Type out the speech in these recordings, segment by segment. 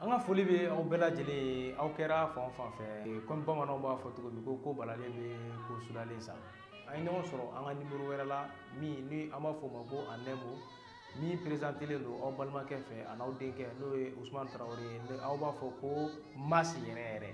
an ka foli bɛ aw bɛɛ lajɛlen ye aw kɛra fan o fan fɛ kɔmi bamananw b'a fɔ cogo min ko ko balalen bɛ ko sudalen sa an ye ɲɔgɔn sɔrɔ an ka nimoro wɛrɛ la min ni an b'a fɔ o ma ko a nɛmo min perezantelen don aw balimakɛ fɛ an'aw denkɛ n'o ye usumani tarawele ye aw b'a fɔ ko masi yɛrɛ yɛrɛ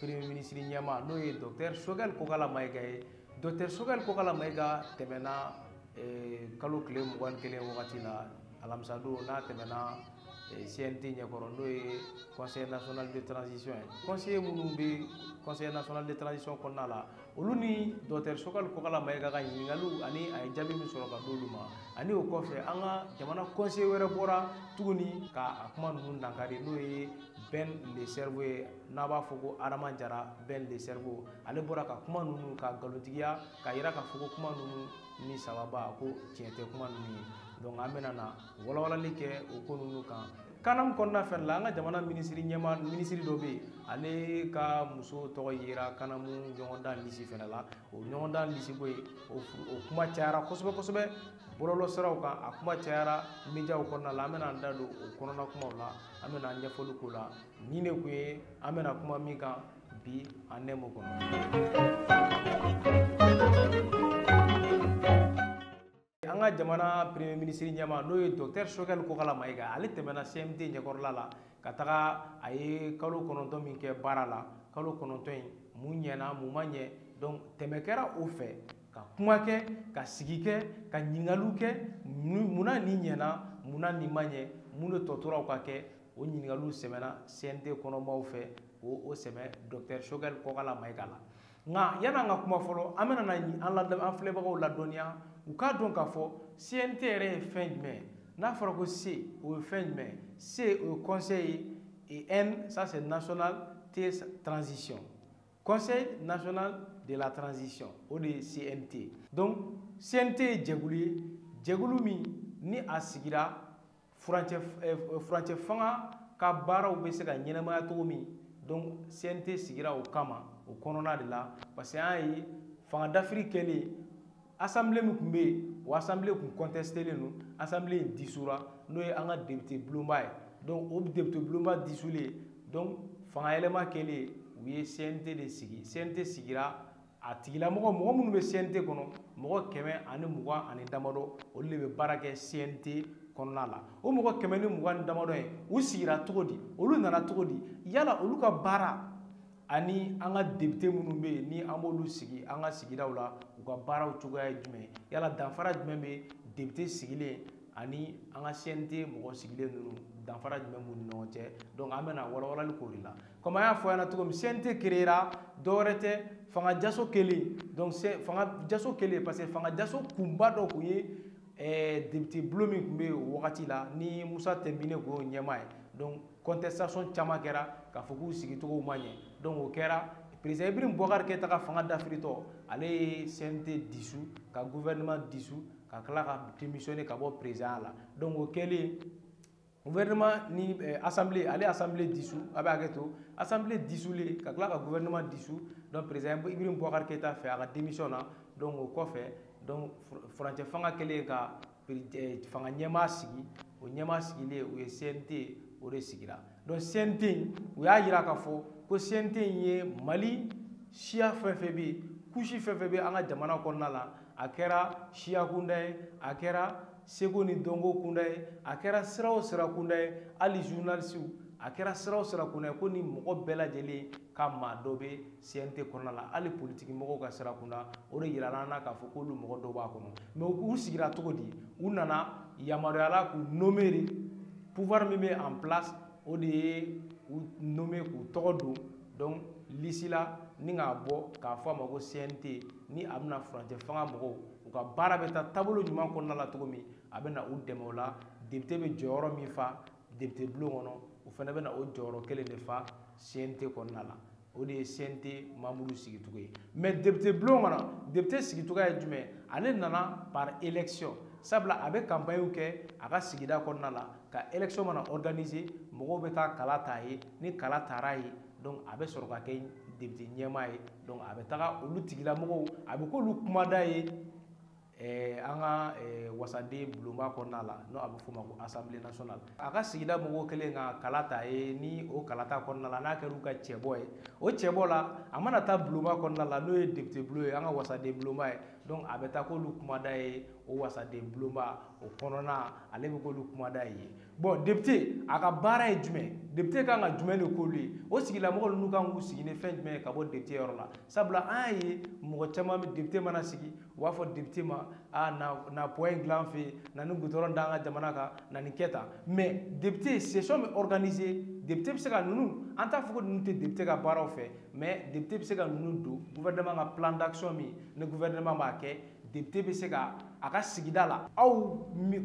premier ministre ɲɛma n'o ye docteur sogɛl kokala mayiga ye docteur sogɛl kokala mayiga tɛmɛna eh, kalo tile mugan ni kelen wagati la alamisadon n'a tɛmɛna eh, cnt ɲɛkɔrɔ n'o ye conseil national de transition ye conseiller minnu bɛ conseil national de transition kɔnɔna la olu ni docteur sogɛl kokala mayiga ka ɲininkaliw ani a ye jaabi min sɔrɔ ka d'olu ma ani o kɔfɛ an ka jamana conseiller wɛrɛ bɔra tuguni ka a kuma ninnu dankari n'o ye Ben le cerveau ye n'a b'a fɔ ko Adama Jara Ben le cerveau ale bɔra ka kuma ninnu ka nkalontigiya k'a yira k'a fɔ ko kuma ninnu ni sababa ko tiɲɛ tɛ kuma ninnu ye donc an bɛna na walawalali kɛ o ko ninnu kan kanamu kɔnɔna fɛnɛ la an ka jamana minisiri ɲɛma minisiri dɔ bɛ yen ale ka muso tɔgɔ yera kanamu ɲɔgɔndan lisi fɛnɛ la o ɲɔgɔndan lisi ko ye o kuma cayara kosɛbɛ kosɛbɛ bɔlɔlɔ siraw kan a kuma cayara mediaw kɔnɔna la an bɛna an da don o kɔnɔna kumaw la an bɛna an ɲɛfɔli k'o la nin de tun ye an bɛna kuma min kan bi an nɛmo kɔnɔ an ka jamana premier ministre ɲɛma n'o ye docteur sogɛl kokala mayiga ale tɛmɛna cnt ɲɛkɔrɔla la ka taga a ye kalo kɔnɔntɔn min kɛ baara la kalo kɔnɔntɔn in mun ɲɛna mun ma ɲɛ donc tɛmɛ kɛra o fɛ ka kuma kɛ ka sigi kɛ ka ɲininkaliw kɛ mun na nin ɲɛna mun na nin ma ɲɛ mun de tɔ tora u k'a kɛ o ɲininkaliw sɛmɛna cnt kɔnɔmaaw fɛ k'o o sɛmɛ docteur sogɛl kokala mayiga la nka yanni an ka kuma fɔlɔ an bɛna an la an filɛbagaw ladɔnniya u k'a dɔn k'a fɔ CNT yɛrɛ ye fɛn jumɛn ye n'a fɔra ko C o ye fɛn jumɛn ye C o ye conseil ye et N ça c'est national T transition conseil national de la transition o de ye CNT donc CNT ye jɛkulu ye jɛkulu min ni a sigira furancɛ eh, furancɛ fanga ka baaraw bɛ se ka ɲɛnamaya cogo min donc CNT sigira o kama o kɔnɔna de la parce que an y'a ye fanga dafiri kɛlen assemblée min tun bɛ yen o assemblée tun contestelen don assemblée in disura n'o ye an ka député bulonba ye donc o député bulonba disulen donc fanga yɛlɛma kɛlen u ye CNT de sigi CNT sigira a tigilamɔgɔ mɔgɔ minnu bɛ CNT kɔnɔ mɔgɔ kɛmɛ ani mugan ani damadɔ olu de bɛ baara kɛ CNT kɔnɔna la o mɔgɔ kɛmɛ ni mugan ni damadɔ in u sigira cogo di olu nana cogo di yala olu ka baara ani an ka depite minnu bɛ yen ni an b'olu sigi an ka sigidaw la u ka baaraw cogoya ye jumɛn yala danfara jumɛn bɛ depite sigilen ani an ka CNT mɔgɔ sigilen ninnu danfara jumɛn b'u ni ɲɔgɔn cɛ an bɛna walawalali k'o de la comme an y'a fɔ ɲɛna cogo min CNT créera dɔwɛrɛ tɛ fanga jaso kɛlen donc fanga jaso kɛlen parce que fanga jaso kunba dɔ tun ye eh, député bulon min tun bɛ o wagati la ni Musa Tɛnbine tun y'o ɲɛmaa ye donc contestation caman kɛra k'a fɔ k'u sigicogow ma ɲɛ donc o kɛra président Ibrahim Boubacar Keïta ka fanga dafiritɔ ale ye CNT dissout ka gouvernement dissout ka tila ka démissionner ka bɔ président la donc o kɛlen gouvernement ni eh, assemblée ale assemblée dissout a bɛ hakɛ to assemblée dissoutlen ka tila ka gouvernement dissout donc président ibrahim boubacar keïta fana ka démissionner donc o kɔfɛ donc furancɛ fanga kɛlen ka eh, fanga ɲɛmaa sigi o ɲɛmaa sigilen u ye cnt o de sigira donc cnt in u y'a jira k'a fɔ ko cnt in ye mali siya fɛn fɛn bɛ yen couche fɛn fɛn bɛ an ka jamana kɔnɔna la a kɛra siyakunda ye a kɛra seko ni dɔnko kunda ye a kɛra sira o sira kunda ye hali journalisiw a kɛra sira o sira kunda ye kɔni mɔgɔ bɛɛ lajɛlen ka maa dɔ bɛ CNT kɔnɔna la hali politiki mɔgɔw ka sira kunda o de yirala an na k'a fɔ k'olu mɔgɔ dɔw b'a kɔnɔ mais u sigira cogo di u nana yamaruya la k'u nommer de pouvoir min bɛ en place o de ye u nommer k'u tɔgɔ don donc lisi la ni k'a bɔ k'a fɔ a ma ko CNT ni a bɛna furancɛ fanga mɔgɔw u ka baara bɛ taa taabolo ɲuman kɔnɔna la cogo min a bɛna u dɛmɛ o la depite bɛ jɔyɔrɔ min fa depite bulon kɔnɔ u fana bɛna o jɔyɔrɔ kelen de fa cnt kɔnɔna la o de ye cnt membre sigicogo ye mais depite bulon kɔnɔ depite sigicogo ye jumɛn ale nana par election sabula a bɛ kanpaɲiw kɛ a ka sigida kɔnɔna la ka election mana organiser mɔgɔw bɛ taa kala ta a ye ni kala tara a ye donc a bɛ sɔrɔ ka kɛ depite ɲɛmaa ye donc a bɛ taga olu tigilamɔgɔw a bɛ k'olu kumada ye eh, an ka eh, wasaden bulonba kɔnɔna la n'o a bɛ f'o ma ko assemblée nationale a ka sigida mɔgɔw kɛlen ka kala ta a ye ni o kala ta kɔnɔna la n'a kɛra u ka cɛbɔ ye o cɛbɔ la a mana taa bulonba kɔnɔna la n'o ye depite bulon ye an ka wasaden bulonba ye donc a bɛ taa k'olu kumada ye o wasaden bulonba o kɔnɔna ale bɛ k'olu kumada ye bɔn depite a ka baara ye jumɛn depite kan ka jumɛn de k'olu ye o sigilamɔgɔ ninnu kan k'u sigi ni fɛn jumɛn ye ka bɔ depite yɔrɔ la sabula an y'a ye mɔgɔ caman bɛ depite mana sigi u b'a fɔ depite ma a na na pɔn in dilan fɛ yen na ni gudɔrɔn d'an ka jamana kan na nin kɛ tan mɛ depite sesɔn bɛ organise depite bɛ se ka ninnu an t'a fɔ ko ninnu tɛ depite ka baaraw fɛ mɛ depite bɛ se ka ninnu don gouvernement ka plan d'action min ni gouvernement b'a kɛ depite bɛ se ka a ka sigida la aw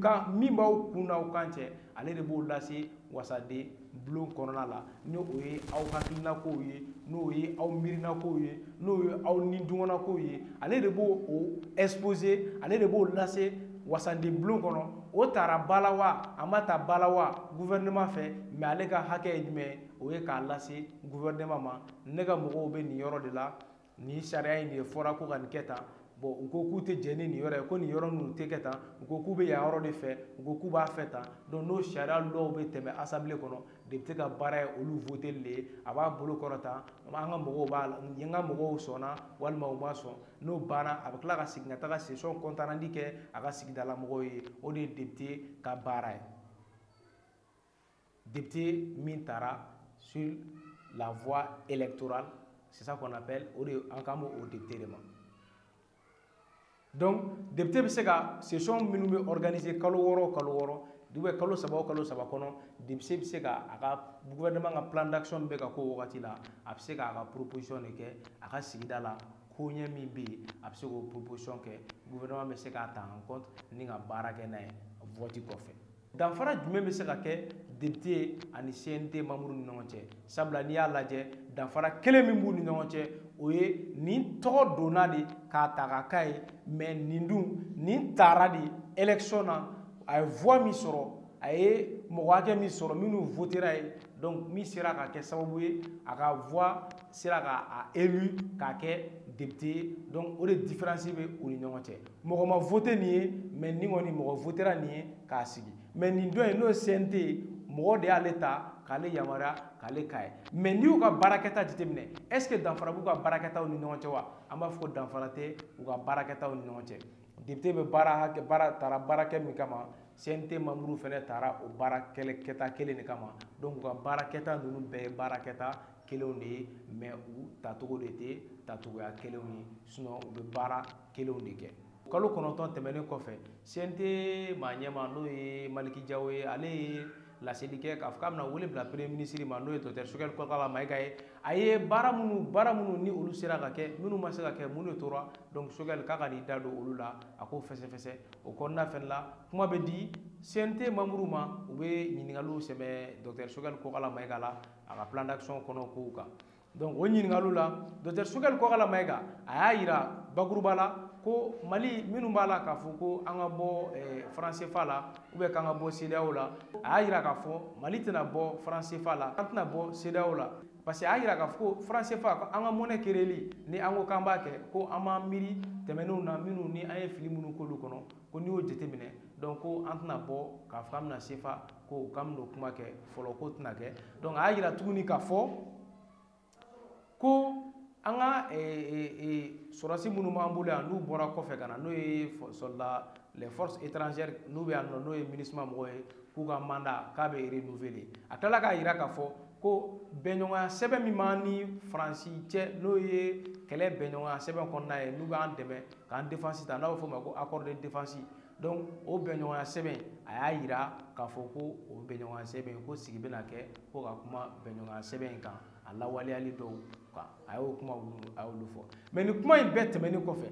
ka min b'aw kun n'aw kan cɛ ale de b'o lase wasaden bulon kɔnɔna la ni o ye aw hakilinakow ye n'o ye aw miirinakow ye n'o ye aw nidungɔnakow ye ale de b'o o exposer ale de b'o lase wasaden bulon kɔnɔ o tara ba la wa a ma ta ba la wa gouvernement fɛ mais ale ka hakɛ ye jumɛn ye o ye k'a lase gouvernement ma ne ka mɔgɔw bɛ nin yɔrɔ de la nin sariya in de fɔra ko ka nin kɛ tan bɔn u ko k'u tɛ jɛn ni nin yɔrɔ ye ko nin yɔrɔ ninnu tɛ kɛ tan u ko k'u bɛ yan yɔrɔ de fɛ u ko k'u b'a fɛ tan donc n'o sariya lɔw bɛ tɛmɛ asanbile kɔnɔ depite ka baara ye olu voteli de ye a b'a bolo kɔrɔta an ka mɔgɔw b'a la n ka mɔgɔw sɔnna walima u ma sɔn n'o banna a bɛ tila ka segin ka taga sesɔn compte rendu kɛ a ka sigidala mɔgɔw ye o de ye depite ka baara ye député min taara sur la voie électorale c'est ça qu'on appelle o de an kan b'o député de ma donc député bɛ se ka session minnu bɛ organiser kalo wɔɔrɔ o kalo wɔɔrɔ ou bien kalo saba o kalo saba kɔnɔ député bɛ se ka a ka gouvernement ka plan d'action bɛ ka k'o wagati la a bɛ se k'a ka proposition de kɛ a ka sigida la koɲɛ min bɛ yen a bɛ se k'o proposition kɛ gouvernement bɛ se k'a ta en compte ni ka baara kɛ n'a ye vote kɔfɛ. danfara jumɛn bɛ se ka kɛ depite ani cnt manburu ni ɲɔgɔn cɛ sabula n'i y'a lajɛ danfara kelen min b'u ni ɲɔgɔn cɛ o ye nin tɔgɔ donna de k'a ta k'a k'a ye mɛ nin dun nin taara de election na a ye voix min sɔrɔ a ye mɔgɔ hakɛ min sɔrɔ minnu votera ye donc min sera ka kɛ sababu ye a ka voix sera ka a élu k'a kɛ depite ye donc o de différence bɛ u ni ɲɔgɔn cɛ mɔgɔ ma vote nin ye mais nin kɔni mɔgɔ votera nin ye k'a sigi mais nin dɔ in n'o ye CNT ye mɔgɔ de y'ale ta k'ale yamaruya k'ale k'a ye mais n'i y'u ka baarakɛta jateminɛ est ce que danfara b'u ka baarakɛtaw ni ɲɔgɔn cɛ wa an b'a fɔ ko danfara tɛ u ka baarakɛtaw ni ɲɔgɔn cɛ député bɛ baara hakɛ baara taara baara kɛ min kama CNT manburu fɛnɛ taara o baara kelen kɛta kelen de kama donc u ka baarakɛta ninnu bɛɛ ye baarakɛta kelenw de ye mais u tacogo de tɛ tacogoya kelenw ye sinon u bɛ baara kelenw de kɛ kalo kɔnɔntɔn tɛmɛnen kɔfɛ CNT maa ɲɛmaa n'o ye Maliki Jawo ye ale ye laseli kɛ k'a fɔ k'a bɛna wele bila premier ministre ma n'o ye docteur Sogɛli Kɔkala Mayiga ye a ye baara minnu baara minnu ni olu sera ka kɛ minnu ma se ka kɛ minnu tora donc Sogɛli k'a ka n'i da don olu la a k'o fɛsɛfɛsɛ o kɔnɔna fɛnɛ la kuma bɛ di CNT membres ma u bɛ ɲininkaliw sɛmɛ docteur Sogɛli Kɔkala Mayiga la a ka plan d'action kɔnɔ kow kan donc o ɲininkaliw la docteur sogɛli kɔkala mayiga a y'a yira bakuruba la ko mali minnu b'a la k'a fɔ ko an ka bɔ eh, faransefa la u bɛ k'an ka bɔ sedeyaw la a y'a yira k'a fɔ mali tɛna bɔ faransefa la an tɛna bɔ sedeyaw la parce que a y'a yira k'a fɔ ko faransefa an ka monnaie kereli ni an ko k'an b'a kɛ ko an b'an miiri tɛmɛnenw na minnu ni an ye fili minnu k'olu kɔnɔ ko n'i y'o jateminɛ donc ko an tɛna bɔ k'a fɔ an bɛna sefa ko k'an bɛn'o kuma kɛ fɔlɔ k'o tɛna kɛ donc a y'a yira tuguni k'a fɔ ko an ka sɔrɔdasi minnu b'an bolo yan n'u bɔra kɔfɛ ka na n'o ye soldats les forces étrangères n'u bɛ yan nɔ n'o ye MINUSMA mɔgɔw ye k'u ka mandat k'a bɛ renouveler a tilala k'a yira k'a fɔ ko bɛnɲɔgɔnya sɛbɛn min b'an ni faransi cɛ n'o ye kɛlɛ bɛnɲɔgɔnya sɛbɛn kɔnɔna ye n'u b'an dɛmɛ k'an defansi ta n'a bɛ f'o ma ko accord de défense donc o bɛnɲɔgɔnya sɛbɛn a y'a yira k'a fɔ ko o bɛnɲɔgɔnya sɛbɛn ko sigi bɛna kɛ ko ka kuma bɛnɲɔgɔnya sɛbɛn in kan a lawaleyali dɔw kan a y'o kuma a y'olu fɔ mais nin kuma in bɛɛ tɛmɛnen kɔfɛ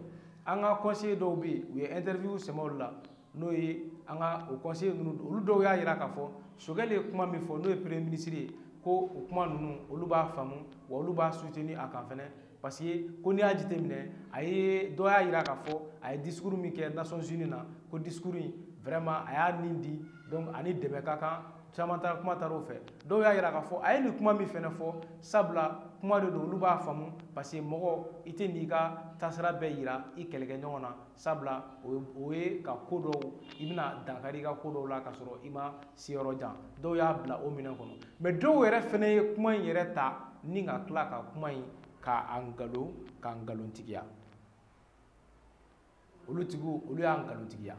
an ka conseiller dɔw bɛ yen u ye interview sɛmɛ olu la n'o ye an ka o conseiller ninnu olu dɔw y'a yira k'a fɔ sogɛli ye kuma min fɔ n'o ye premier ministre ye ko o kuma ninnu olu b'a faamu wa olu b'a soutenir a kan fɛnɛ parce que ko n'i y'a jateminɛ a ye dɔ y'a yira k'a fɔ a ye discours min kɛ nations unies na ko discours in vraiment a y'a nin di donc ani dɛmɛ ka kan caman taara kuma taara o fɛ dɔw y'a yira k'a fɔ a ye nin kuma min fɛnɛ fɔ sabula kuma de don olu b'a faamu parce que mɔgɔ i tɛn'i ka taasira bɛɛ yira i kɛlɛkɛɲɔgɔn na sabula o ye ka ko dɔw i bɛna dankari i ka ko dɔw la ka sɔrɔ i ma se yɔrɔ jan dɔw y'a bila o minɛn kɔnɔ mais dɔw yɛrɛ fɛnɛ ye kuma in yɛrɛ ta ni ka tila ka kuma in ka a nkalon ka nkalontigiya olu tigiw olu y'a nkalontigiya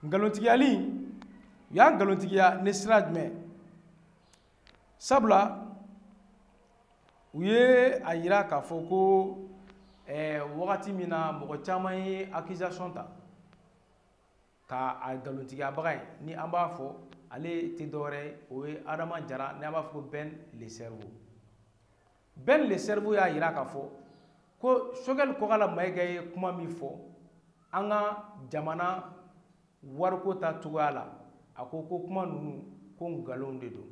nkalontigiyali u y'a nkalontigiya ni sira jumɛn sabula u ye a yira k'a fɔ ko eh, wagati min na mɔgɔ caman ye accusation ta ka a nkalontigiyabaga ye ni an b'a fɔ ale tɛ dɔwɛrɛ ye o ye adama jara ni an b'a fɔ ko ben le cerveau Ben le cerveau y'a jira k'a fɔ ko Choguel Kokala Mayiga ye kuma min fɔ an ka jamana wariko ta cogoya la a ko ko kuma ninnu ko nkalonw de don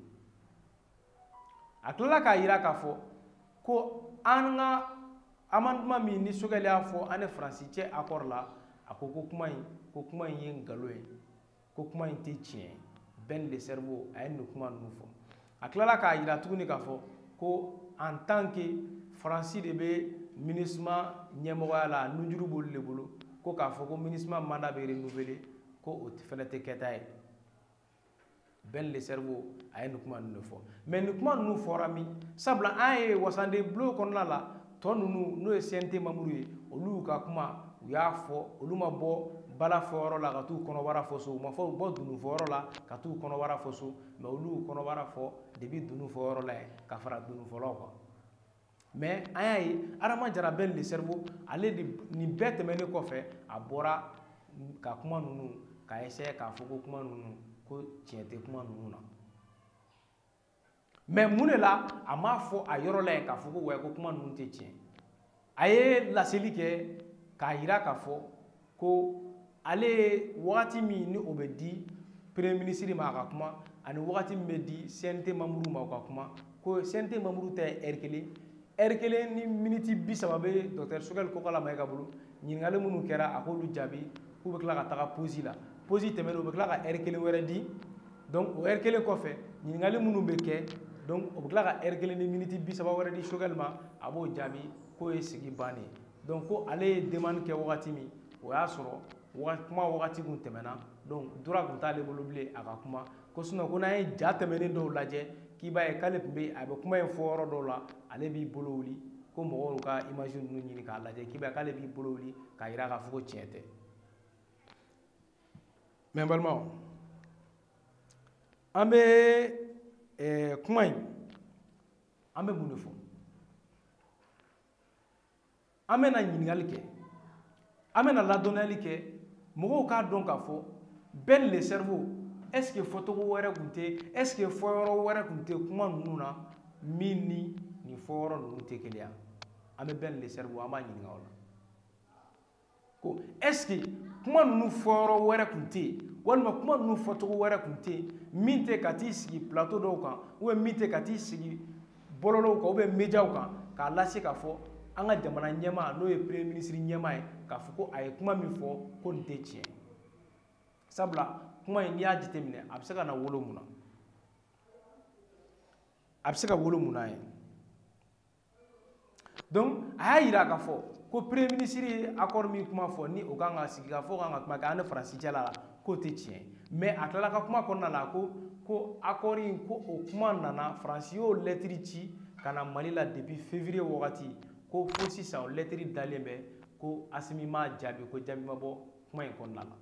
a tilala k'a jira k'a fɔ ko an ka amendement min ni Choguel y'a fɔ an ni Faransi cɛ accord la a ko ko kuma in ko kuma in ye nkalon ye ko kuma in tɛ tiɲɛ Ben le cerveau a ye nin kuma ninnu fɔ a tilala k'a jira tuguni k'a fɔ ko en tant que faransi de bɛ minisma ɲɛmɔgɔya la nunjuru b'olu de bolo ko k'a fɔ ko minisma manda bɛ renouveler ko o fana tɛ kɛta ye Ben le cerveau a ye nin kuma ninnu de fɔ mais nin kuma ninnu fɔra min sabula an ye wasaden bulon kɔnɔna la tɔ ninnu n'o ye CNT membres ye olu y'u ka kuma u y'a fɔ olu ma bɔ bala fɔyɔrɔ la ka t'u kɔnɔbara fɔ so u ma fɔ u bɔ dunu fɔyɔrɔ la ka t'u kɔnɔbara fɔ so mɛ olu y'u kɔnɔbara fɔ depuis dunu fɔyɔrɔ la yen ka fara dunu fɔlaw kan mɛ an y'a ye Adama Jara Ben le cerveau ale de nin bɛɛ tɛmɛnen kɔfɛ a bɔra ka kuma ninnu ka essayer k'a fɔ ko kuma ninnu ko tiɲɛ tɛ kuma ninnu na mɛ mun de la a m'a fɔ a yɔrɔ la yen k'a fɔ ko wɛ ko kuma ninnu tɛ tiɲɛ a ye laseli kɛ k'a yira k'a fɔ ko ale ye wagati min ni o bɛ di premier minisiri ma a ka kuma ani wagati min bɛ di cnt membres ma u ka kuma ko cnt membres ta ye ɛri kelen ɛri kelen ni miniti bi saba bɛ docteur Choguel Kokala Mayiga bolo ɲininkali minnu kɛra a k'olu jaabi k'u bɛ tila ka taga posi la posi tɛmɛnen u bɛ tila ka ɛri kelen wɛrɛ di donc o heure kelen kɔfɛ ɲininkali minnu bɛ kɛ donc o bɛ tila ka heure kelen ni miniti bi saba wɛrɛ di Choguel ma a b'o jaabi k'o ye sigi bannen ye donc ko ale ye demande kɛ wagati min o y'a sɔrɔ kuma wagati kun tɛmɛna donc droit kun t'ale bolo bilen a ka kuma ko sinon ko n'an ye ja tɛmɛnen dɔw lajɛ k'i b'a ye k'ale tun bɛ a bɛ kuma in fɔ yɔrɔ dɔw la ale b'i bolo wuli ko mɔgɔw ka image ninnu ɲini k'a lajɛ k'i b'a ye k'ale b'i bolo wuli k'a jira k'a fɔ ko tiɲɛ tɛ mɛ n balimaw an bɛ eh, kuma in an bɛ mun de fɔ an bɛna ɲininkali kɛ an bɛna ladɔnniyali kɛ mɔgɔw k'a dɔn k'a fɔ Ben le cerveau est ce que fɔcogo wɛrɛ tun tɛ est ce que fɔyɔrɔ wɛrɛ tun tɛ kuma ninnu na min ni nin fɔyɔrɔ ninnu tɛ kelen ye an bɛ Ben le cerveau an b'a ɲininka o la ko est-ce que kuma ninnu fɔyɔrɔ wɛrɛ tun tɛ yen walima kuma ninnu fɔcogo wɛrɛ tun tɛ yen min tɛ ka t'i sigi plateau dɔw kan ou bien min tɛ ka t'i sigi bɔlɔlɔw kan ou bien mediaw kan k'a lase k'a fɔ an ka jamana ɲɛmaa n'o ye premier ministre ɲɛmaa ye k'a fɔ ko a ye kuma min fɔ ko nin tɛ tiɲɛ sabula kuma in n'i y'a jateminɛ a bɛ se ka na wolo mun na a bɛ se ka wolo mun na ye donc a y'a yira k'a fɔ ko premier ministre ye accord min kuma fɔ ni o kan ka sigi k'a fɔ k'an ka kuma kɛ an ni faransi cɛla la k'o tɛ tiɲɛ mais a tilala ka kuma kɔnɔna la ko ko accord in ko o kuma nana faransi y'o lɛtiri ci ka na mali la depuis février wagati ko fo sisan o lɛtiri dalen bɛ ko asimi ma jaabi ko jaabi ma bɔ kuma in kɔnɔna la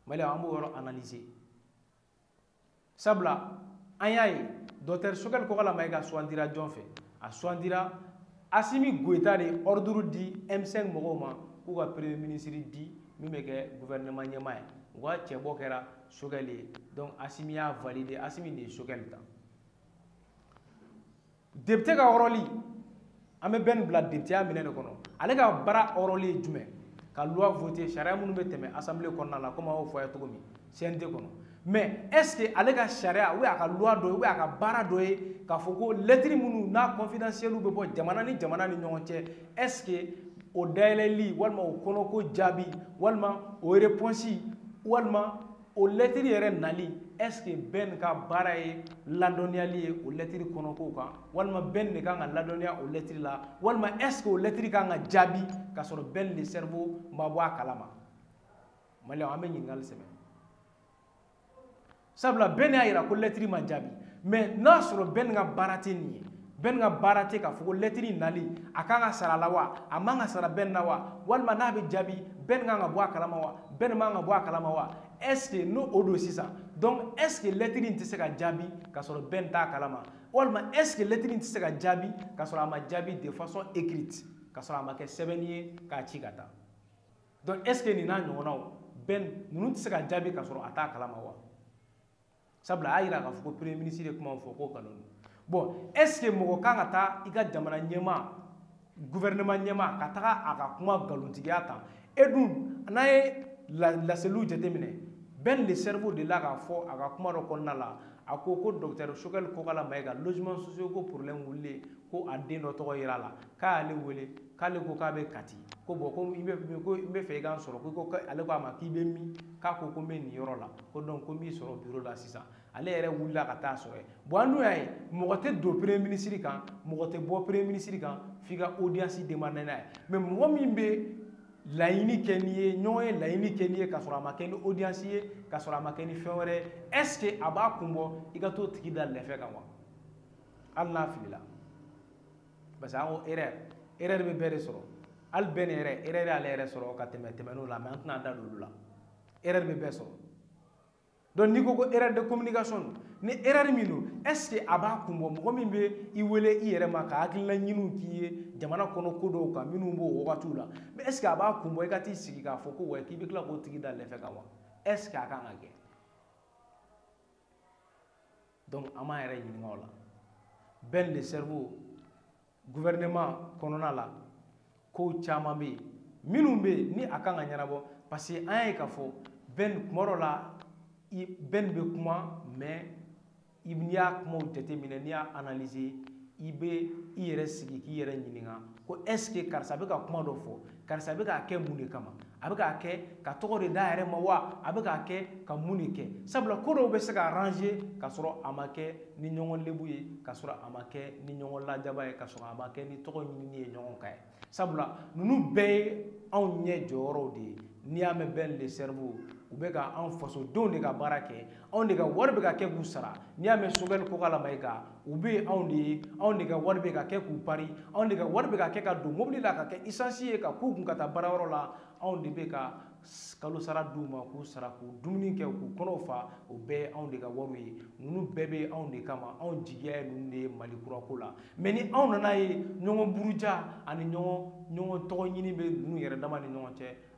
mali an b'o yɔrɔ analyser sabula an y'a ye dɔktɛri sokɛli kokala mayiga sugandira jɔn fɛ a sugandira asimi goyita de ɔriduru di m5 mɔgɔw ma k'u ka premier minisiri di min bɛ kɛ guvɛrɛnɛman ɲɛmaa ye u ka cɛbɔ kɛra sokɛli ye donc asimi y'a valide asimi de ye sokɛli ta depite ka ɔrɔli an bɛ bɛn bila depiteya minɛ de kɔnɔ ale ka baara ɔrɔli ye jumɛn ka loi vote sariya minnu bɛ tɛmɛ assemblée kɔnɔna la komi a y'o fɔ a ye cogo min cnt kɔnɔ mais est ce que ale ka sariya ou a ka loi dɔ ye ou a ka baara dɔ ye k'a fɔ ko lɛtiri minnu n'a confidentielle bɛ bɔ jamana ni jamana ni ɲɔgɔn cɛ est ce que o dayɛlɛli walima o kɔnɔko jaabi walima o réponse walima o lɛtiri yɛrɛ nali est ce que bɛn ka baara ye ladɔnniyali ye o lɛtiri kɔnɔkow kan walima bɛn de kan ka ladɔnniya o lɛtiri la walima est ce que o lɛtiri kan ka jaabi k'a sɔrɔ bɛn le cerveau ma bɔ a kalama maliyɛnw an bɛ ɲininkali sɛbɛn sabula bɛn y'a jira ko lɛtiri ma jaabi mais n'a sɔrɔ bɛn ka baara tɛ nin ye bɛn ka baara tɛ k'a fɔ ko lɛtiri nali a kan ka sara a la wa a man ka sara bɛn na wa walima n'a bɛ jaabi bɛn kan ka bɔ a kalama wa bɛn man ka bɔ a kalama wa est ce que n'o o don sisan donc est ce que lɛtiri in tɛ se ka jaabi ka sɔrɔ bɛn t'a kalama walima est ce que lɛtiri in tɛ se ka jaabi ka sɔrɔ a ma jaabi de façon écrite ka sɔrɔ a ma kɛ sɛbɛnni ye k'a ci ka taa donc est ce que nin n'a ɲɔgɔnnaw bɛn ninnu tɛ se ka jaabi ka sɔrɔ a t'a kalama wa sabula a y'a yira k'a fɔ ko premier ministre ye kuma fɔ ko nkalon don bon est ce que mɔgɔ kan ka taa i ka jamana ɲɛmaa gouvernement ɲɛmaa ka taga a ka kuma nkalontigiya tan e dun n'a ye laseliw jateminɛ bɛn le cerveau delila k'a fɔ a ka kuma dɔ kɔnɔna la a ko ko docteur sokɛli kokala mayiga logement sociaux ko problème wulilen ko a den dɔ tɔgɔ yera a la k'a y'ale wele k'ale ko k'a bɛ kati ko bon ko i bɛ ko i b'a fɛ i k'an sɔrɔ ko i ko ale ko a ma k'i bɛ min k'a ko ko n bɛ nin yɔrɔ la ko donc ko n b'i sɔrɔ biro la sisan ale yɛrɛ wulila ka t'a sɔrɔ yen bon an dun y'a ye mɔgɔ tɛ don premier ministre kan mɔgɔ tɛ bɔ premier ministre kan f'i ka audience demander n'a ye mais mɔgɔ min bɛ laɲini kɛ n'i ye ɲɔgɔn ye laɲini kɛ n'i ye k'a sɔrɔ a ma kɛ ni audience ye k'a sɔrɔ a ma kɛ ni fɛn wɛrɛ ye est ce que a b'a kun bɔ i ka t'o tigi da lɛfɛ kan wa hali n'a filila parce que an ko erreur erreur bɛ bɛɛ de sɔrɔ hali ben erreur erreur y'ale yɛrɛ sɔrɔ ka tɛmɛ tɛmɛn'o la mais an tɛna an da don olu la erreur bɛ bɛɛ sɔrɔ donc n'i ko ko erreur de communication don ni erreur min don est ce que a b'a kun bɔ mɔgɔ min bɛ i wele i yɛrɛ ma ka hakilina ɲiniw k'i ye jamana kɔnɔ ko dɔw kan minnu b'o wagatiw la mais est ce que a b'a kun bɔ i ka t'i sigi k'a fɔ ko wa k'i bɛ tila k'o tigi da lɛfɛ kan wa est ce que a kan ka kɛ donc an b'an yɛrɛ ɲininka o la ben le cerveau gouvernement kɔnɔna la kow caman bɛ yen minnu bɛ yen ni a kan ka ɲɛnabɔ parce que an y'a ye k'a fɔ ben kuma dɔ la ben bɛ kuma mais n'i y'a kumaw jateminɛ n'i y'a analyser i bɛ i yɛrɛ sigi k'i yɛrɛ ɲininka ko est ce que karisa bɛ ka kuma dɔ fɔ karisa bɛ k'a kɛ mun de kama a bɛ k'a kɛ ka tɔgɔ de da yɛrɛ ma wa a bɛ k'a kɛ ka mun de kɛ sabula ko dɔw bɛ se ka arranger ka sɔrɔ a ma kɛ ni ɲɔgɔn lebu ye ka sɔrɔ a ma kɛ ni ɲɔgɔn lajaba ye ka sɔrɔ a ma kɛ ni tɔgɔ ɲinini ye ɲɔgɔn kan ye sabula ninnu bɛɛ ye anw ɲɛ jɔyɔrɔw de ye n'i y'a mɛn ben le cerveau u bɛ ka anw fasodenw de ka baara kɛ anw de ka wari bɛ ka kɛ k'u sara n'i y'a mɛn sogɛli kokala mayiga u bɛ yen anw de ye anw de ka wari bɛ ka kɛ k'u pari anw de ka wari bɛ ka kɛ ka don mobili la ka kɛ isansi ye ka k'u kun ka taa baara yɔrɔ la anw de bɛ ka kalo sara d'u ma k'u sara k'u dumuni kɛ k'u kɔnɔw fa o bɛɛ ye anw de ka wariw ye ninnu bɛɛ bɛ anw de kama anw jigiya ye ninnu de ye mali kura ko la mais ni anw nan'a ye ɲɔgɔn buruja ani ɲɔgɔn ɲɔgɔn tɔgɔ ɲini bɛ ninnu yɛrɛ dama ni ɲɔgɔn cɛ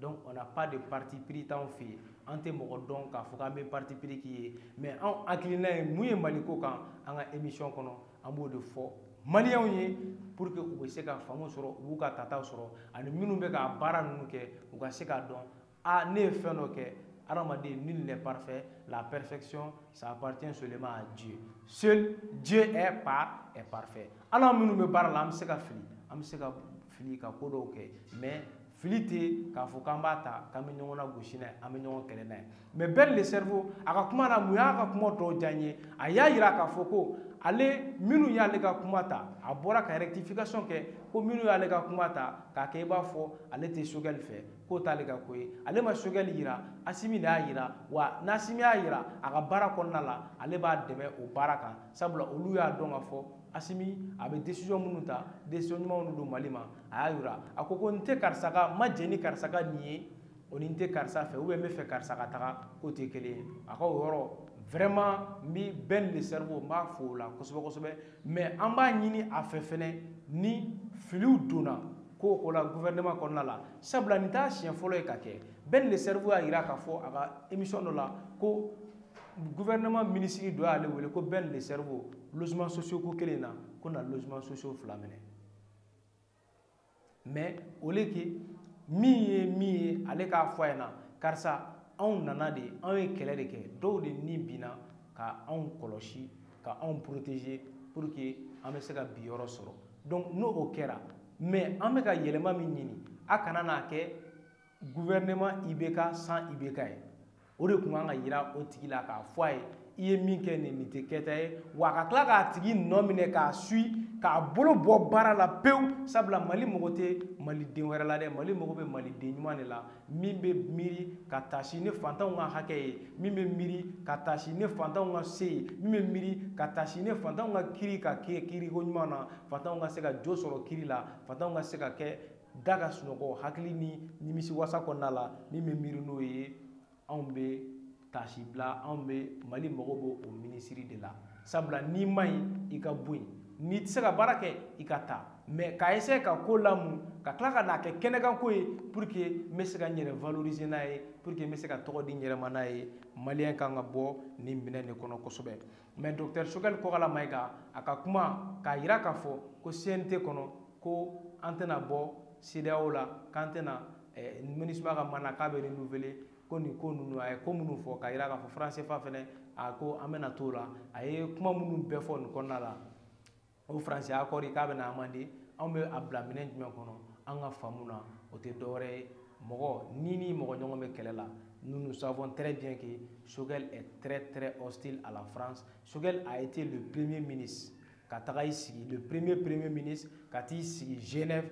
donc on n'a pas de parti pris t'anw fɛ yen an tɛ mɔgɔ dɔn k'a fɔ k'an bɛ parti pris k'i ye mais anw hakilina ye mun ye mali ko kan an ka émission kɔnɔ an b'o de fɔ maliyɛnw ye pour que u bɛ se ka faamu sɔrɔ u b'u ka tataw sɔrɔ ani minnu bɛ ka baara ninnu kɛ u ka se k'a dɔn a ne ye fɛn dɔ kɛ hadamaden nul n'est parfait la perfection ça appartient seulement à Dieu seul Dieu est par est parfait anw minnu bɛ baara la an bɛ se ka fili an bɛ se ka fili ka ko dɔw kɛ mais fili tɛ k'a fɔ k'an b'a ta k'an bɛ ɲɔgɔn nagosi n'a ye an bɛ ɲɔgɔn kɛlɛ n'a ye mais ben le cerveau a ka kuma la mun y'a ka kuma dɔw diya n ye a y'a yira k'a fɔ ko ale minnu y'ale ka kuma ta a bɔra ka rectification kɛ ko minnu y'ale ka kuma ta k'a kɛ i b'a fɔ ale tɛ sogɛli fɛ k'o t'ale ka ko ye ale ma sogɛli yira asimi de y'a yira wa n'asimi y'a yira a ka baara kɔnɔna la ale b'a dɛmɛ o baara kan sabula olu y'a dɔn k'a fɔ asimi a bɛ décision minnu ta décision ɲumanw de don mali ma a y'a yira a ko ko n tɛ karisa ka n ma jɛn ni karisa ka nin ye o ni n tɛ karisa fɛ ou bien n b'a fɛ karisa ka taga k'o tɛ kelen ye a ka o yɔrɔ vraiment n bɛ Ben le cerveau n b'a fo o la kosɛbɛ kosɛbɛ mais an b'a ɲini a fɛ fɛnɛ ni filiw donna ko la gouvernement kɔnɔna la sabula nin t'a siɲɛ fɔlɔ ye k'a kɛ Ben le cerveau y'a jira k'a fɔ a ka émission dɔ la ko gouvernement minisiri dɔ y'ale wele ko Ben le cerveau logement sociaux ko kelen na ko na logement sociaux fila minɛ mais au lieu que min ye min ye ale k'a fɔ a ɲɛna karisa anw nana de anw ye kɛlɛ de kɛ dɔw de ni binna ka anw kɔlɔsi ka anw protéger pour que an bɛ se ka bi yɔrɔ sɔrɔ donc n'o kɛra mais an bɛ ka yɛlɛma min ɲini a kana na kɛ gouvernement IBK sans IBK ye o de tun kan ka yira o tigi la k'a fɔ a ye i ye min kɛ nin nin tɛ kɛta ye wa a ka tila k'a tigi nɔ minɛ k'a suivre k'a bolo bɔ baara la pewu sabula mali mago tɛ maliden wɛrɛ la dɛ mali mago bɛ maliden ɲuman de la min bɛ miiri ka taasi ni fantanw ka hakɛ ye min bɛ miiri ka taasi ni fantanw ka se ye min bɛ miiri ka taasi ni fantanw ka kiri ka kɛ kiriko ɲuman na fantanw ka se ka jo sɔrɔ kiri la fantanw ka se ka kɛ da ka sunɔgɔ hakili ni nimisiwasa kɔnɔna la min bɛ miiri n'o ye anw bɛ taasibila anw bɛ mali mago b'o minisiri de la sabula n'i man ɲi i ka bɔ yen n'i tɛ se ka baara kɛ i ka taa mais ka essayer ka ko lamu ka tila ka n'a kɛ kɛnɛkanko ye pour que n bɛ se ka n yɛrɛ valoriser n'a ye pour que n bɛ se ka tɔgɔ di n yɛrɛ ma n'a ye maliyɛn kan ka bɔ nin minɛn de kɔnɔ kosɛbɛ mais docteur Choguel Kokalla Maïga a ka kuma k'a jira k'a fɔ ko CNT kɔnɔ ko an tɛna bɔ CEDEAO la k'an tɛna eh, MINUSMA ka mandat k'a bɛ renouveler ko nin ko ninnu a ye ko minnu fɔ k'a jira k'a fɔ franc CFA fɛnɛ a ko an bɛna t'o la a ye kuma minnu bɛɛ fɔ nin kɔnɔna la o faransi accord k'a bɛna amender anw bɛ a bila minɛn jumɛn kɔnɔ an ka faamu na o tɛ dɔwɛrɛ ye mɔgɔ ni ni mɔgɔ ɲɔgɔn bɛ kɛlɛ la nous nous savons très bien que Choguel est très très hostile à la France Choguel a été le premier ministre ka taga i sigi le premier premier ministre ka t'i sigi genève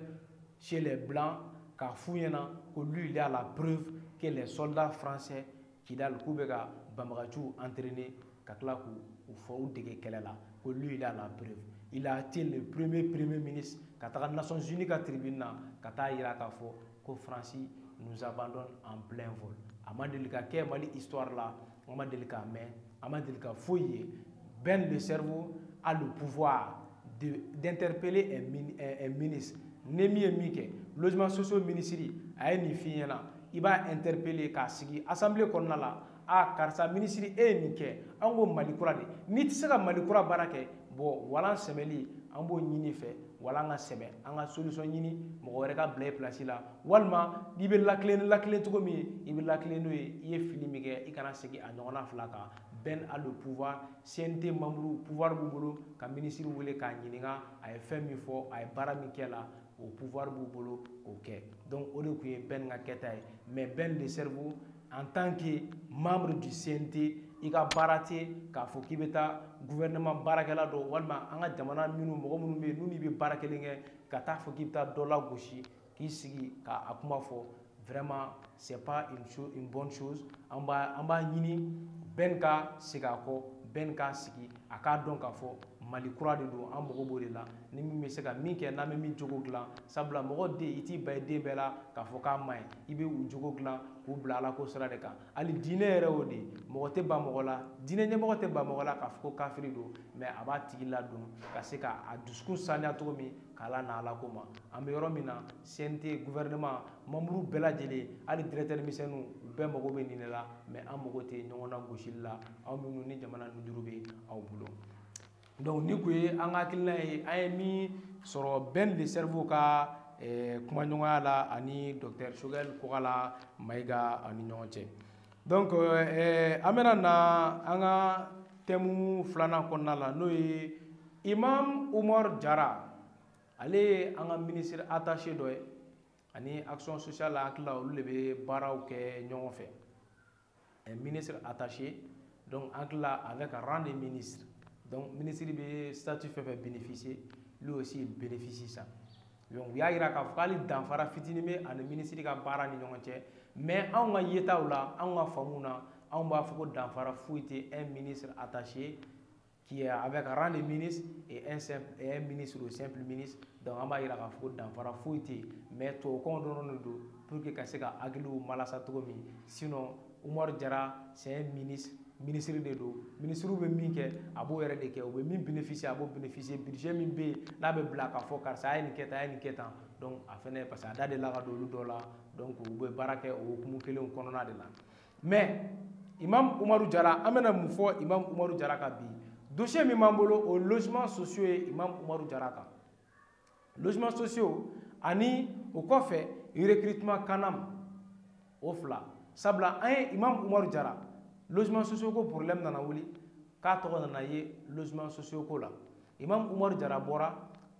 chez les blancs k'a f'u ɲɛna ko lui il a la preuve que les soldats français kidal k'u bɛ ka banbaganciw entraîner ka tila k'u fɔ u dege kɛlɛ la ko lui il a la preuve il a été le premier premier ministre ka taga nations unies ka tribune na ka t'a yira k'a fɔ ko france nous abandonne en plein vol a ma deli ka kɛ mali histoire la an ma deli k'a mɛn a ma deli ka foyi ye bɛn le cerveau a le pouvoir d'interpeller un ministre ni min ye min kɛ logement sociaux minisiri a ye nin f'i ɲɛna i b'a interpeller k'a sigi assemblée kɔnɔna la a karisa minisiri e ye nin kɛ an ko mali kura de n'i tɛ se ka mali kura baara kɛ bon walan sɛmɛli an b'o ɲini i fɛ walan ka sɛmɛ an ka solution ɲini mɔgɔ wɛrɛ ka bila i pilasi la walima n'i bɛ ladilan ni ladilan cogo min ye i bɛ ladilan n'o ye i ye fili min kɛ i kana segin a ɲɔgɔnna fila kan bɛn a le pouvoir CNT membres pouvoir b'u bolo ka minisiri wele k'a ɲininka a ye fɛn min fɔ a ye baara min kɛ la o pouvoir b'u bolo k'o kɛ donc o de tun ye bɛn ka kɛta ye mais bɛn le cerveau en tant que membre du CNT i ka baara tɛ k'a fɔ k'i bɛ taa gouvernement baarakɛla dɔ walima an ka jamana minnu mɔgɔ minnu bɛ yen n'u n'i bɛ baara kelen kɛ ka taa fɔ k'i bɛ taa dɔ lagosi k'i sigi k'a kuma fɔ vraiment c'est pas une chose une bonne chose an b'a an b'a ɲini bɛn ka segin a kɔ bɛn ka sigi a k'a dɔn k'a fɔ mali kura de don an mago b'o de la ni min bɛ se ka min kɛ n'an bɛ min jogo dilan sabula mɔgɔ den i t'i ban i den bɛɛ la k'a fɔ k'a man ɲi i bɛ u jogo dilan k'u bila ala ko sira de kan hali diinɛ yɛrɛ y'o de ye mɔgɔ tɛ ban mɔgɔ la diinɛ ɲɛmɔgɔ tɛ ban mɔgɔ la k'a fɔ ko kafiri don mais a b'a tigi ladon ka se ka a dusukun saniya cogo min k'a lana ala ko ma an bɛ yɔrɔ min na CNT gouvernement membres bɛɛ lajɛlen hali directeur misɛnninw u bɛɛ mago bɛ nin de la mais an mago tɛ ɲɔgɔn nagosili la aw minnu ni jamana nujuru bɛ aw bolo donc nin kun ye an ka hakilina ye an ye min sɔrɔ bɛn le cerveau ka eh, kumaɲɔgɔnya la ani docteur sogɛl kokala mayiga ani ɲɔgɔn cɛ donc eh, an bɛna na an ka thème filanan kɔnɔna la n'o ye imam umar jara ale ye an ka minisiri attaché dɔ ye ani action sociale n hakili la olu de bɛ baaraw kɛ ɲɔgɔn fɛ eh, ministre attaché donc n hakili la avec rang de ministre donc minisiri bɛ statut fɛn fɛn bénéficier lui aussi il bénéficie ça donc u y'a jira k'a fɔ hali danfara fitinin bɛ a ni minisiri ka baara ni ɲɔgɔn cɛ mais anw ka yetaw la anw ka faamuw na anw b'a fɔ ko danfara foyi tɛ un ministre attaché qui est avec rang de ministre et un, simple, et un ministre ou simple ministre donc an b'a jira k'a fɔ ko danfara foyi tɛ yen mais tubabukanw dɔrɔn de don pour que ka se ka hakiliw malasa cogo min sinon Umaru Jara c'est un ministre minisiri de don minisiriw bɛ min kɛ a b'o yɛrɛ de kɛ u bɛ min bénéficier a b'o bénéficier budget min bɛ yen n'a bɛ bila k'a fɔ karisa a ye nin kɛ tan a ye nin kɛ tan donc a fɛnɛ parce que a da delila ka don olu dɔ la donc u bɛ baara kɛ o hukumu kelen kɔnɔna de la mais imam umaru jara an bɛna mun fɔ imam umaru jara ka bi dossier min b'an bolo o logement sociaux ye imam umaru jara kan logements sociaux ani o kɔfɛ recrutement kanam o fila sabula an ye imam umaru jara logements sociaux ko problème nana wuli k'a tɔgɔ nana ye logements sociaux ko la imam umaru jara bɔra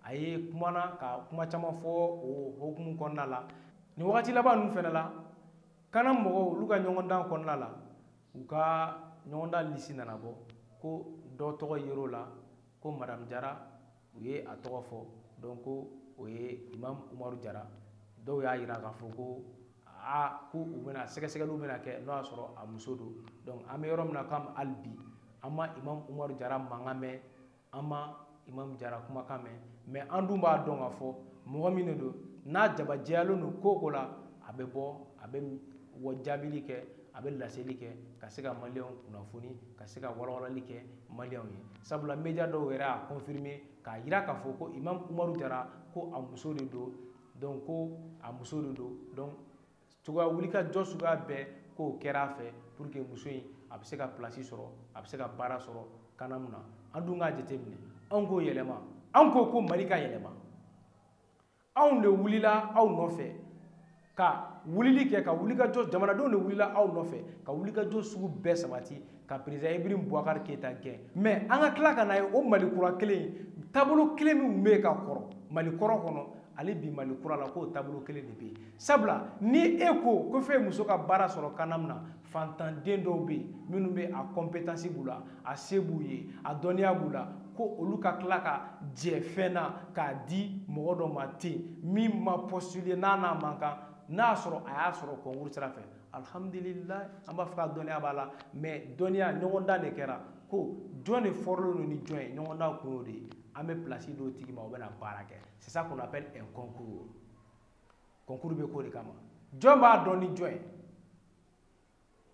a ye kumana ka kuma caman fɔ o hokumu kɔnɔna la nin wagati laban ninnu fɛnɛ la kanam mɔgɔw olu ka ɲɔgɔndan kɔnɔna la u ka ɲɔgɔndan lisi nana bɔ ko dɔ tɔgɔ yer'o la ko madamu jara u ye a tɔgɔ fɔ dɔn ko o ye imam umaru jara dɔw y'a jira k'a fɔ ko aa ko u bɛna sɛgɛsɛgɛliw bɛna kɛ n'o y'a sɔrɔ a muso don donc an bɛ yɔrɔ min na k'an hali bi an ma imam umaru jara mankan mɛn an ma imam jara kumakan mɛn mɛ an dun b'a dɔn k'a fɔ mɔgɔ min de don n'a jabajɛyalen don ko ko la a bɛ bɔ a bɛ o jaabili kɛ a bɛ laseli kɛ ka se ka maliyɛnw kunnafoni ka se ka walawalali kɛ maliyɛnw ye sabula media dɔw yɛrɛ y'a confirmer k'a jira k'a fɔ ko imam umaru jara ko a muso de don donc ko a muso de don donc cogoya wulikajɔ suguya bɛɛ k'o kɛra a fɛ pour que muso in a bɛ se ka place sɔrɔ a bɛ se ka baara sɔrɔ kanam na an dun k'a jateminɛ anw ko yɛlɛma anw ko ko mali ka yɛlɛma anw de wulila aw nɔfɛ ka wulili kɛ ka wulikajɔ jamanadenw de wulila aw nɔfɛ ka wulikajɔ sugu bɛɛ sabati ka perezida ibrahim bubakari keyita gɛn mɛ an ka tila ka na ye o mali kura kelen in taabolo kelen min bɛ yen ka kɔrɔ mali kɔrɔ kɔnɔ hali bi mali kura la k'o taabolo kelen de bɛ yen sabula ni e ko ko fo e muso ka baara sɔrɔ kanam na fantanden dɔw bɛ yen minnu bɛ a kɔnpetansi b'u la a se b'u ye a dɔnniya b'u la ko olu ka tila ka jɛ fɛn na k'a di mɔgɔ dɔ ma ten min ma postuler n'a n'a man kan n'a y'a sɔrɔ a y'a sɔrɔ kɔnkuru sira fɛ alhamdulilayi an b'a fɔ k'a dɔnniya b'a la mɛ dɔnniya ɲɔgɔndan de kɛra ko jɔn de fɔrɔlen don ni jɔn ye ɲɔgɔndan kun y'o de ye an bɛ pilasi d'o tigi ma o bɛna baara kɛ c'est ça qu'on appelle un concours concours bɛ k'o de kama jɔn b'a dɔn ni jɔn ye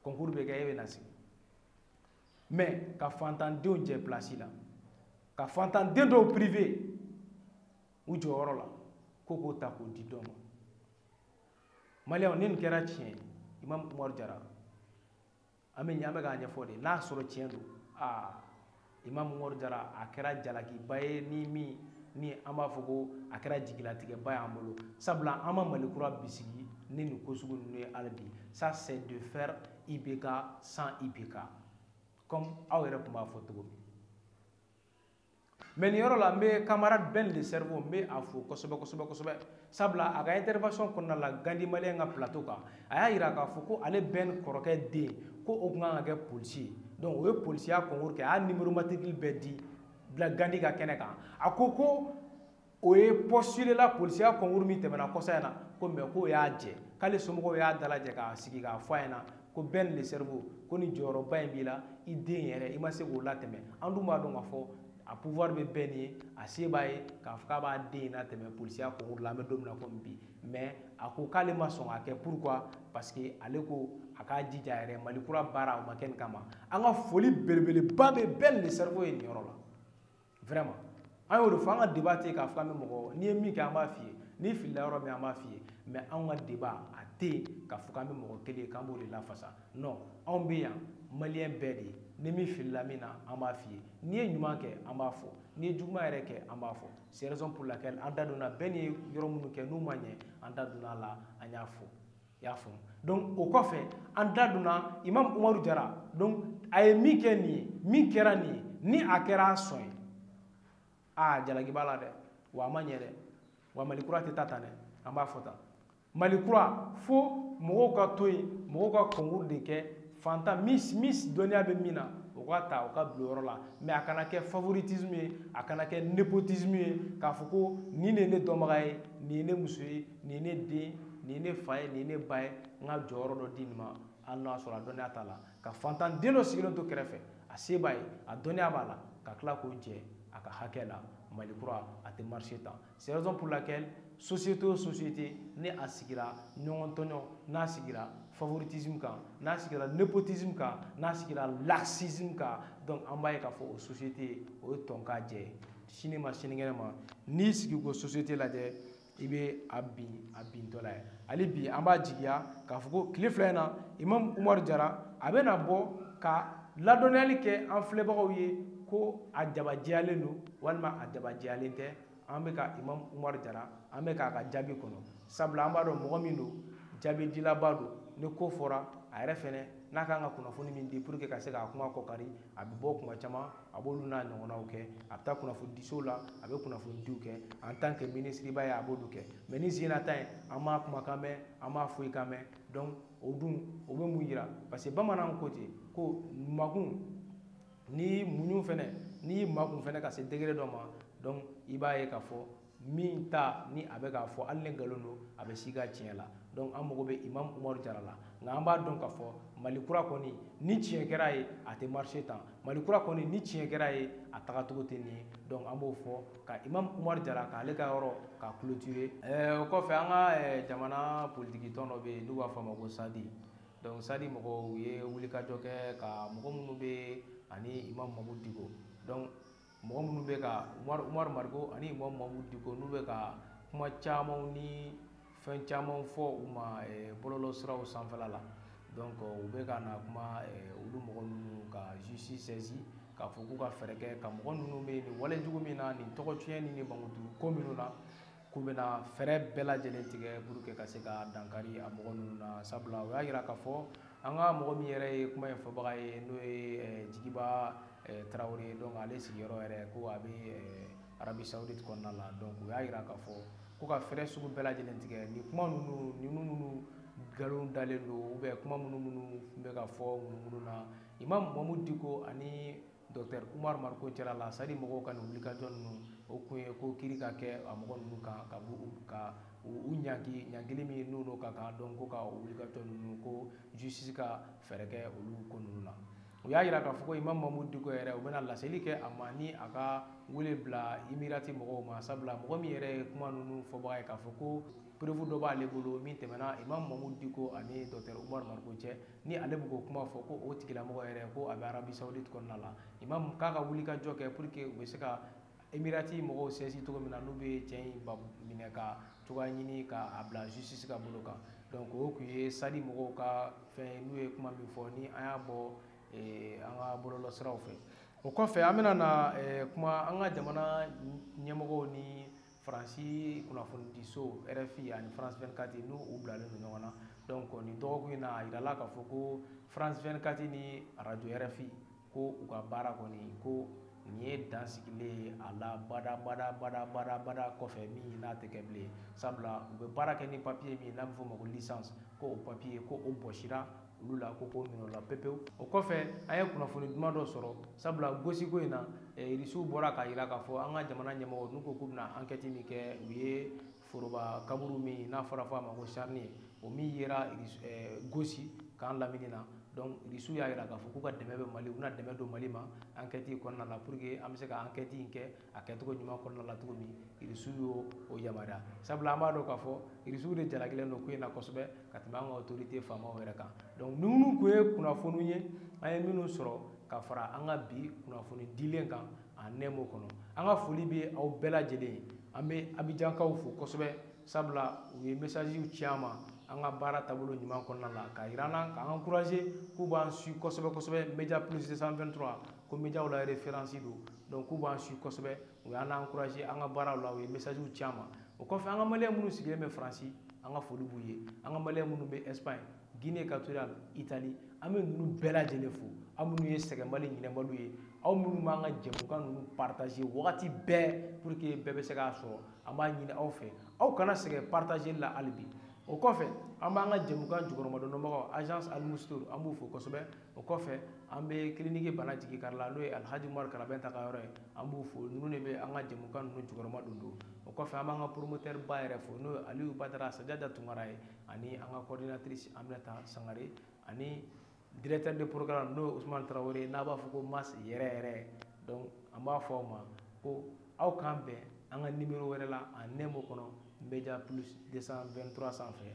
concours bɛ kɛ e bɛ na sigi mais ka fantandenw jɛ place la ka fantanden dɔw prive u jɔyɔrɔ la ko k'o ta k'o di dɔ ma maliyɛnw ni nin kɛra tiɲɛ ye imam umaru jara an bɛ ɲɛ an bɛ k'a ɲɛfɔ de n'a sɔrɔ tiɲɛ don aa imamu umaru jara a kɛra jalakiba ye ni min ni an b'a fɔ ko a kɛra jigilatigɛba y'an bolo sabula an ma mali kura bisigi ni nin ko sugu ninnu ye hali bi ça c'est de faire ibk sans ibk comme aw yɛrɛ tun b'a fɔ cogo min mɛ nin yɔrɔ la n bɛ camarade ben le cerveau n bɛ a fo kosɛbɛ kosɛbɛ kosɛbɛ sabula a ka intervention kɔnɔna la gandi maliyɛn ka plateau kan a y'a yira k'a fɔ ko ale bɛn kɔrɔkɛ den ko o tun kan ka kɛ polisi ye donc o ye polisiya concours kɛ a y'a numéro matricule bɛɛ di bila gandi ka kɛnɛ kan a ko ko o ye postuler la polisiya concours min tɛmɛna kɔsa in na ko mais k'o y'a jɛ k'ale somɔgɔw y'a dalajɛ k'a sigi k'a fɔ a ɲɛna ko bɛn le cerveau ko nin jɔyɔrɔba in b'i la i den yɛrɛ i ma se k'o latɛmɛ an dun b'a dɔn k'a fɔ a pouvoir bɛ bɛn ye a se b'a ye k'a fɔ k'a b'a den in latɛmɛ polisiya kɔnkuru la an bɛ don min na komi bi mais a ko k'ale ma sɔn k'a kɛ pourquoi parce que ale ko a k'a jija yɛrɛ mali kura baara o ma kɛ nin kama an ka foli belebeleba bɛ bɛn le cerveau ye nin yɔrɔ la vraiment an y'o de fɔ an ka débat tɛ k'a fɔ an bɛ mɔgɔ n'i ye min kɛ an b'a f'i ye n'i filila yɔrɔ min an b'a f'i ye mais anw ka débat a tɛ yen k'a fɔ k'an bɛ mɔgɔ kelen ye k'an b'o de lafasa non anw bɛ yan maliyɛn bɛɛ de ye ni min filila min na an b'a f'i ye n'i ye ɲuman kɛ an b'a fɔ n'i ye juguman yɛrɛ kɛ an b'a fɔ c'est raison pour laquelle an da donna bɛn ye yɔrɔ minnu kɛ n'u ma ɲɛ an da donna a la an y'a fɔ i y'a faamu donc o kɔfɛ an da donna imam umaru jara donc a ye min kɛ nin ye min kɛra nin ye ni a kɛra a sɔn ye aa jalaki b'a la dɛ wa a ma ɲɛ dɛ wa mali kura tɛ taa tan dɛ an b'a fɔ tan mali kura fo mɔgɔw ka to yen mɔgɔw ka kɔnkuru de kɛ fantan mis mis dɔnniya bɛ min na o ka ta o ka bila yɔrɔ la mais a kana kɛ favoritisme ye a kana kɛ népotisme ye k'a fɔ ko nin de ye ne dɔnbaga ye nin ye ne muso ye nin ye ne den nin ye ne fa ye nin ye ne ba ye n ka jɔyɔrɔ dɔ di nin ma hali n'a sɔrɔ a dɔnniya t'a la ka fantan den dɔ sigilen to kɛrɛfɛ a se b'a ye a dɔnniya b'a la ka tila k'o jɛ a ka hakɛ la mali kura a tɛ marcher tan C'est raison pour laquelle société o société ni a sigira ɲɔgɔn tɔɲɔ n'a sigira favoritisme kan n'a sigira népotisme kan n'a sigira laxisme kan donc an b'a ye k'a fɔ o société o ye tɔn k'a jɛ sini ma sinikɛnɛ ma n'i sigi k'o société lajɛ i bɛ a bin a bintɔla ye hali bi an b'a jigiya k'a fɔ ko tile fila in na imam umaru jara a bɛna bɔ ka ladɔnniyali kɛ an filɛbagaw ye ko a jabajɛyalen don walima a dabajɛyalen tɛ an bɛ ka imam umaru jara an bɛ k'a ka jaabi kɔnɔ sabula an b'a dɔn mɔgɔ min don jaabi dilaba don ni ko fɔra a yɛrɛ fɛnɛ n'a kan ka kunnafoni min di pour que ka se k'a kuma kɔkari a bɛ bɔ kuma caman a b'olu n'a ɲɔgɔnnaw kɛ a bɛ taa kunnafoni disow la a bɛ kunnafonidiw kɛ en tant que minisiriba ye a b'olu kɛ mais nin sen na ta ye an m'a kumakan mɛn an m'a foyi kan mɛn donc o dun o bɛ mun yira parce que bamananw ko ten ko makun n'i muɲu fɛnɛ n'i makun fɛnɛ ka se degré dɔ ma donc i b'a ye k'a fɔ min ta ni a bɛ k'a fɔ hali ni nkalon don a bɛ si ka tiɲɛ la donc an mago bɛ imam umaru jara la nka an b'a dɔn k'a fɔ mali kura kɔni ni tiɲɛ kɛra ye a tɛ marché tan mali kura kɔni ni tiɲɛ kɛra ye a tagacogo tɛ nin ye donc an b'o fɔ ka imam umaru jara k'ale ka yɔrɔ ka clôturer ɛɛ o kɔfɛ an ka jamana politikitɔn dɔ bɛ yen n'u b'a fɔ a ma ko sadi donc sadi mɔgɔw u ye wulikajɔ kɛ ka mɔgɔ minnu bɛ ani imam mamu diko donc mɔgɔ minnu bɛ ka umaru mariko ani imam mamu diko n'u bɛ ka kuma camanw ni fɛn camanw fɔ u ma eh, bɔlɔlɔ siraw sanfɛla la donc u bɛ ka na kuma eh, olu mɔgɔ ninnu ka justice saisi k'a fɔ k'u ka fɛɛrɛ kɛ ka mɔgɔ ninnu bɛ nin wale jugu min na nin tɔgɔ tiɲɛ ni nin mankutu ko minnu na k'u bɛna fɛɛrɛ bɛɛ lajɛlen tigɛ pour que ka se ka dankari a mɔgɔ ninnu na sabula u y'a jira k'a fɔ an ka mɔgɔ min yɛrɛ ye kuma in fɔbaga ye n'o ye eh, jigiba eh, tarawele ye donc ale sigiyɔrɔ yɛrɛ ko a bɛ eh, arabi saudite kɔnɔna la donc u y'a jira k'a fɔ ko ka fɛɛrɛ sugu bɛɛ lajɛlen tigɛ nin kuma ninnu ninnu minnu nkalon dalen don ou bien kuma minnu minnu bɛ ka fɔ ŋunuŋunu na imam mamu diko ani docteur umaru mariko cɛla la sadi mɔgɔw ka wulikajɔ ninnu o tun ye ko kiri ka kɛ a mɔgɔ ninnu kan ka ka u ɲangi ɲangili min n'u don ka kan donc u ka wulikajɔ ninnu ko justice ka fɛɛrɛ kɛ olu ko ninnu na u y'a jira k'a fɔ imam mamu diko yɛrɛ u bɛna laseli kɛ a ma ni a ka wele bila emirati mɔgɔw ma sabula mɔgɔ min yɛrɛ ye kuma ninnu fɔbaga ye k'a fɔ ko preuve dɔ b'ale bolo min tɛmɛna imam mamu diko ani docteur umaru mariko cɛ ni ale bɛ k'o kuma fɔ ko o tigilamɔgɔ yɛrɛ ko a bɛ arabi sawuditi kɔnɔna la imam k'a ka wulikajɔ kɛ pour que u bɛ se ka emirati mɔgɔw saisi cogo min na n'u bɛ cɛ in minɛ ka cogoya ɲini k'a bila justice ka bolo kan donc o tun ye sadi mɔgɔw ka fɛn n'u ye kuma min fɔ ni an y'a bɔ eh, an ka bɔlɔlɔsiraw fɛ o kɔfɛ an bɛna na eh, kuma an ka jamana ɲɛmɔgɔw ni faransi kunnafonidiso rfi ani france 24 n'u u bilalen don ɲɔgɔn na donc nin dɔgɔkun in na a yirala k'a fɔ ko france 24 ni radio rfi ko u ka baara kɔni ko nin ye dan sigilen ye a la bada bada bada bada bada kɔfɛ min n'a tɛ kɛ bilen sabula u bɛ baara kɛ ni papiye min n'a bɛ f'o ma ko licence ko o papiye ko o bɔsira olu la ko k'o minɛ o la pepewu o kɔfɛ an ye kunnafoni duman dɔ sɔrɔ sabula gosiko in na irisiw bɔra k'a jira k'a fɔ an ka jamana ɲɛmɔgɔ n'u ko k'u bɛna ankɛti min kɛ u ye foroba kaburu min n'a fɔra fɔ a ma ko charnier o min yera gosi camp lamini na donc irisiw y'a jira k'a fɔ k'u ka dɛmɛ bɛ mali u bɛna dɛmɛ don mali ma ankɛti in kɔnɔna na pour que an bɛ se ka ankɛti in kɛ a kɛcogo ɲuman kɔnɔna la cogo min irisiw y'o o yamaruya sabula an b'a dɔn k'a fɔ irisiw de jalakilen don ko in na kosɛbɛ ka tɛmɛ an ka otorite faamaw yɛrɛ kan donc ni minnu tun ye kunnafoniw ye an ye minnu sɔrɔ ka fara an ka bi kunnafoni dilen kan a nɛmo kɔnɔ an ka foli bɛ aw bɛɛ lajɛlen ye an bɛ abijankaw fo kosɛbɛ sabula u ye mesajiw ci an ma an ka baara taabolo ɲuman kɔnɔna la k'a yira an na k'an encouragé k'u b'an suivre kosɛbɛ kosɛbɛ media plus 223 ko mediaw la referansi don donc k'u b'an suivre kosɛbɛ u y'an encouragé an ka baaraw la u ye messagew ci an ma o kɔfɛ an ka maliyɛn minnu sigilen bɛ faransi an ka foli b'u ye an ka maliyɛn minnu bɛ espagne guinée equatoriale italie an bɛ ninnu bɛɛ lajɛlen fo aw minnu ye sɛgɛnbali ɲinɛbaliw ye aw minnu b'an ka jɛmukan ninnu partage wagati bɛɛ pour que bɛɛ bɛ se k'a sɔrɔ an b'a ɲini aw fɛ aw kana sɛgɛn partage la hali bi o kɔfɛ an b'an ka jɛmukan jukɔrɔmadondonbagaw agence alimustour an b'u fo kosɛbɛ o kɔfɛ an bɛ kiliniki bana jigi kari la n'o ye alhaji umaru karabɛnta ka yɔrɔ ye an b'u fo ninnu de bɛ an ka jɛmukan ninnu jukɔrɔmadondon o kɔfɛ an b'an ka promoteur ba yɛrɛ fo n'o ye aliyu badara sajada tunkara ye ani an ka coordinatrice aminata sangare ani directeur de programme n'o ye usman tarawele n'an b'a fɔ ko mas yɛrɛ yɛrɛ donc an b'a fɔ aw ma ko aw k'an bɛn an ka nimero wɛrɛ la a nemo kɔnɔ media plus 223 sanfɛ